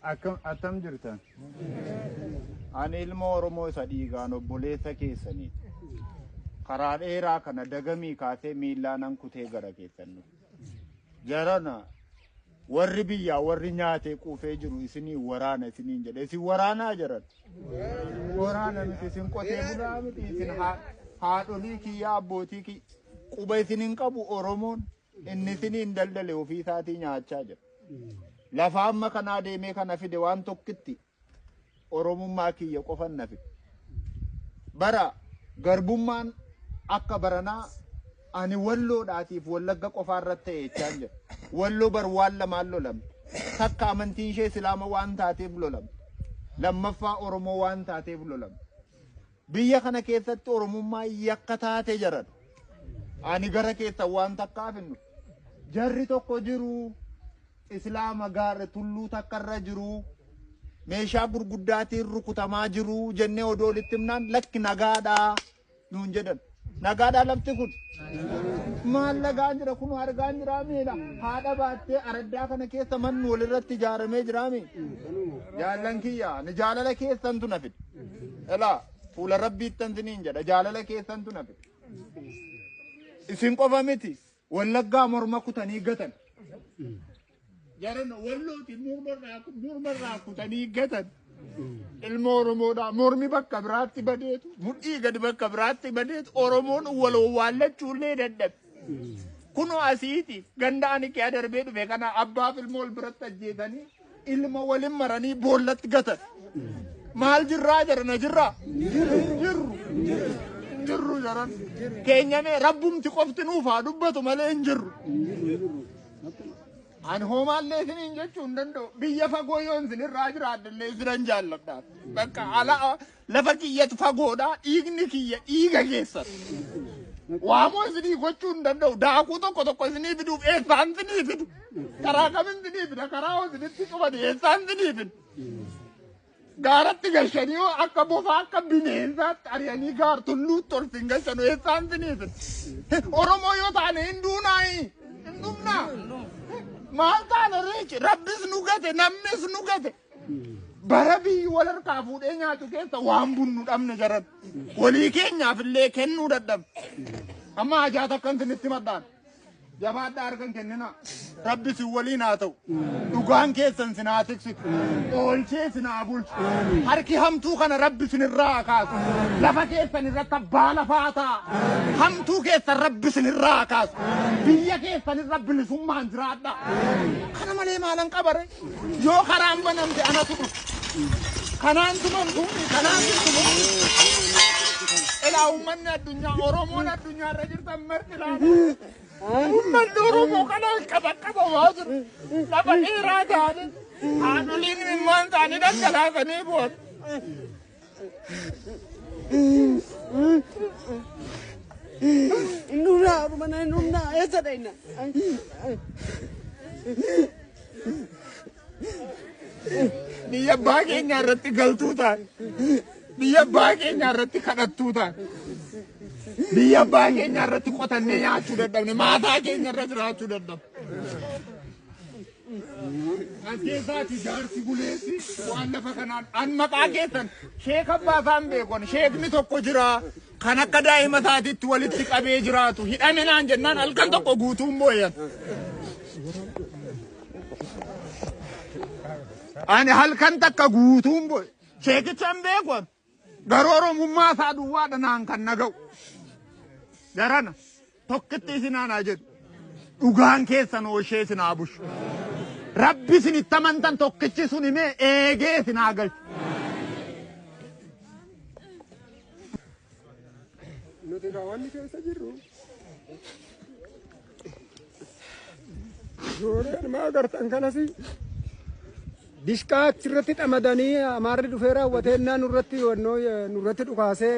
Akkam attam jirtan? Ani ilma Oromoo isa dhiigaan obboleessa keessanii karaa dheeraa kana dagamii kaasee miillaanan kutee gara keessan dhufe. Jarana warri biyyaa warri nyaatee quufee jiru isinii waraana isiniin jedhe isin waraanaa jaran. Waraana miti isin qotee bulaa miti isin haa- haadholii kiyya abbootii kiyya quba isin hin qabu Oromoon. Inni isiniin daldale ofii isaatii nyaachaa jira. Lafa amma kanaa deemee kana fide waan tokkitti Oromummaa kiyya qofan na fide. Bara garbummaan akka baranaa ani walloodhaatiif wallagga qofaa irratti ta'e jechaan jira. Walloo bar waan lamaan lolamte. Takka amantiin ishee Islaama waan taateef lolamte. Lammaffaa Oromoo waan taateef lolamte. Biyya kana keessatti Oromummaa yakka taate jaran. Ani gara keessan waan takkaaf hin dhufu. Jarri tokko jiru Islaama gaarre tulluu takka irra jiru meeshaa gurguddaatiin rukutamaa jiru jennee odoo walitti himnaan lakki nagaadhaa nuun jedhan. Nagaadhaa lafti kun. Maal lagaan jira kun argaan jiraa miila haadha baattee araddaa kana keessa manni walirratti ijaaramee jiraa mi. Jaallan kiyya ni jaalala keessantu na fide. Elaa fuula rabbiittan siniin jedha jaalala keessantu na fide. Isin qofa miti Wallaggaa morma kutanii gatan. Jaran wallooti mormarraa kutanii gatan. Ilma Oromoodhaa mormi bakka biraatti badeetu mudhii gadi bakka biraatti badeetu Oromoon waloo waallachuu illee dadhabe. Kunoo asiiti ganda ani kee adarbee dhufe kana abbaaf ilmoo wal biratti ajjeesanii ilma walin maranii boollatti gatan. Maal jirraa jedhana jirraa? Jirru. Jirru jedhan. Keenyamee rabbumti qofti nuuf haa dubbatu malee hin jirru. An hoomaallee isiniin jechuu hin danda'u. Biyya fagoo yoon isinirraa jiraadhallee isinan jaalladha. Bakka ala Lafa kiyyatu fagoodha, dhiigni kiyya dhiiga keessan. Waamoo isinii gochuu hin danda'u. Daakuu tokko tokko isinii fiduuf eessaan isinii fidu. Karaa kamin isinii fida? Karaa hoo isinitti cufani eessaan isinii fidu? Gaaratti gashanii hoo akka bofaa akka bineensaatti ari'anii gaar tulluutti ol sin gashanu eessaan isinii fidu? Oromoo yoo taane hin duunaayi. Hin dhumnaa. Maal taana reechi? Rabbis nu gate, namnis nu gate. bara biyyi wal harkaa fuudhee nyaatu keessa waan bunnu dhabne jaran walii keenyaaf illee kennuu dadhabne amma hajaa takkan sinitti madhaan jabaadhaa harkan kennina rabbi sin waliin haa ta'u dhugaan keessan sin haa tiksitu oolchee sin haa bulchu harki hamtuu kana rabbi sin irraa haa kaasu lafa keessan irratti abbaa lafaa ta'a hamtuu keessan rabbi sin irraa haa kaasu biyya keessan irra bilisummaan jiraadha kana malee maalan qabare Yoo karaan banamte anatu dhufa. Kanaan tumamtu, kanaan tumamtu. Ilaa uummanni addunyaa Oromoon addunyaa irra jirtan marti laata. Uummanni Oromoo kana qaba qaba waa jiru. Lafa dheeraa taane haadholiin ilmaan isaanii dhangalaasanii booda. Nuna mana nuna esa daina. Biyya abbaa keenya irratti galtuu ta'a. Biyya abbaa keenya irratti kadhattuu ta'a. Biyya abbaa keenya irratti qotannee nyaachuu dadhabne. Maataa keenya irra jiraachuu dadhabne. Ajjeesaati jaarsi buleessi waan lafa kanaan an maqaa keessan sheek abbaa isaan beekon sheekni tokko jira kan akka daa'ima isaatiitti walitti qabee jiraatu hidhame naan jennaan halkan tokko guutuun booyan. Ani halkan takka guutuun booye sheekicha hin beekon Garuu Oromummaa isaa duwwaadha naan kan naga'u. Jarana tokkitti isin aanaa jedhu. Dhugaan keessan ooshee isin haa bushu. Rabbi isin itti amantan tokkichi sun himee eegee isin haa galchu. Nuti kaawwanni keessa jirru Suureen maa agartan kanas dishqaa achirratti dhamadanii amaarri dhufee raawwatee innaa nurratti nurratti dhukaasee.